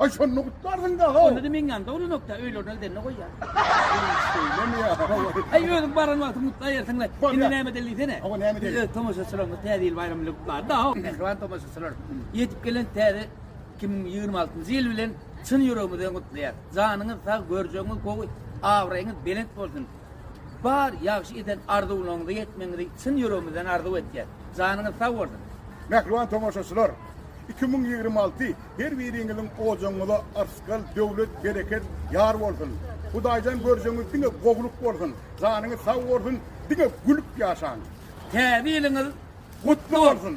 Aý şonda gutlarsyňda-ha. Onda da meňňam dowlanokda, öýlerine gidende goýýar. Şeýlemi? Aý özüň baran wagtyň gutlaýarsyň-la. Indi näme edeli diýsene. Hawa näme edeli? Biz öz tomaşaçylarymyzy Täze ýyl baýramy bilen gutlarys-da. Mähriban tomaşaçylar, ýetip gelen täze iki müň ýigrimi altynjy ýyl bilen çyn ýüregimizden gutlaýarys. Janyňyz sag, görjegiňiz gowy, abraýyňyz belent bolsun. Bar ýagşy eden arzuwlaryňyza ýetmegiňizi çyn ýüregimizden arzuw etýäs. Janyňyz sag bolsun! Mähriban tomaşaçylar, iki müň ýigrimi alty Her biriňiziň ojagyňyza yrsgal, döwlet, bereket ýar bolsun. Hudaýdan görjegiňiz diňe gowulyk bolsun. Janyňyz sag bolsun, diňe gülüp ýaşaň. Täze ýylyňyz gutly bolsun!